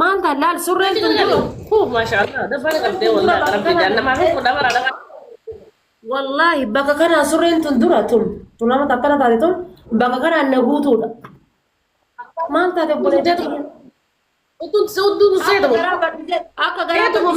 Maal ta'a laal surreen sun jiru. Wallaahi bakka kanaa surreen tun dura tun tun nama takkana taate tun bakka kanaan na guutuudha. Maal taate obboleettii tiyya? Akka garaa badhite akka garaa tumuuf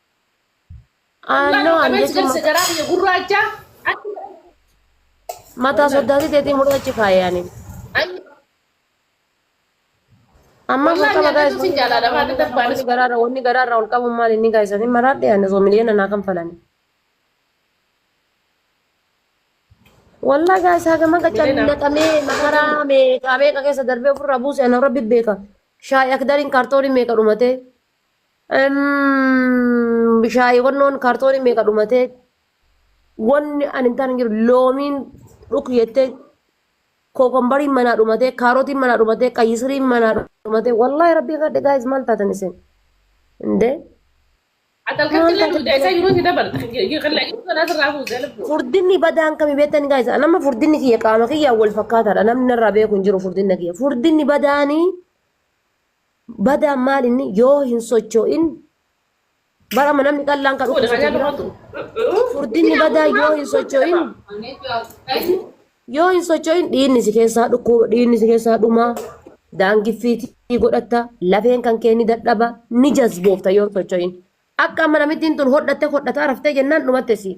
Aannoo an Qabeessi jechuun galsa garaa biyya gurraacha. mataa soddaatii teetii muraachi faayani. Ammaa Wallaahi sokkaba gaa'is nyaatatu si jaalaadha, maata darbaan wanni garaarra wanni garaarra ol qabuun maal inni gaa'isanii maraadhe ani osoo miliyoona naa kan falani. Wallaahi gaa'is haga maqa Miliyoona. cannaqamee makaraa meeqaa meeqa keessa darbee ofirraa buuse ana rabbi beeka. Shaayi akdariin kaartoonii meeqa dhumatee. Bishaayii wannoon kaartoonii meeqa dhumatee wanni ani hin taane jiru loomiin dhuk jettee kookombariin manaa dhumatee kaarotiin manaa dhumatee qayyisiriin manaa dhumatee wallaahi rabbii kadhe gaayis maal taatan isin indee Atalkatti illee duudaa isaa yeroo itti dabalta. Kan laayyuu kanaa sirraa fuutee lubbuu. furdinni badaan kami beektani gaayis nama furdinni kiyya qaama kiyya wal fakkaataadha namni narraa beeku hin jiru furdinna kiyya furdinni badaanii Badaan maal inni yoo hin socho'in bara amma namni qallaan kan dhukkubsatu jira. Furdinni badaa yoo hin socho'in yoo hin socho'in dhiinni si keessaa dhukkuba dhiinni si keessaa dhumaa daangiffiitii godhatta lafeen kan kee ni dadhaba ni jazboofta yoo hin socho'in. Akka amma namittiin tun hodhatte hodhataa raftee jennaan dhumatte siif.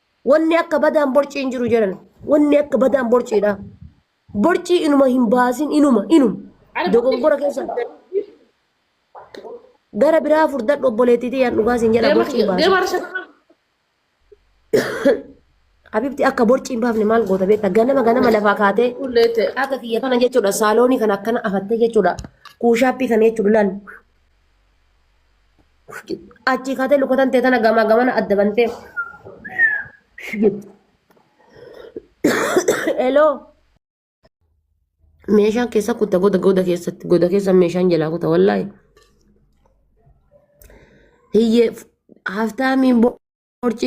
Wanni akka badaan borcii hin jiru jedhan. Wanni akka badaan borciidha. Borcii inuma hin baasin inuma inuma. Dogongora keessa gara biraa furdadhu obboleettii tiyyaan dhugaa siin jedha borcii hin baasin. Deemaa rashaa. Habibti akka borcii hin baafne maal goota beekta ganama ganama lafaa kaatee Kullee ta'e. akka kiyya kana jechuudha saaloonii kana akkana afattee jechuudha kuushaappii kana jechuudha laal achii kaatee lukatan tee tana gamaa gamana adda bantee eloo meeshaan keessa kutta goda goda keessatti goda keessa meeshaan jalaa kuta wallaahi hiyyee haftaamiin borcii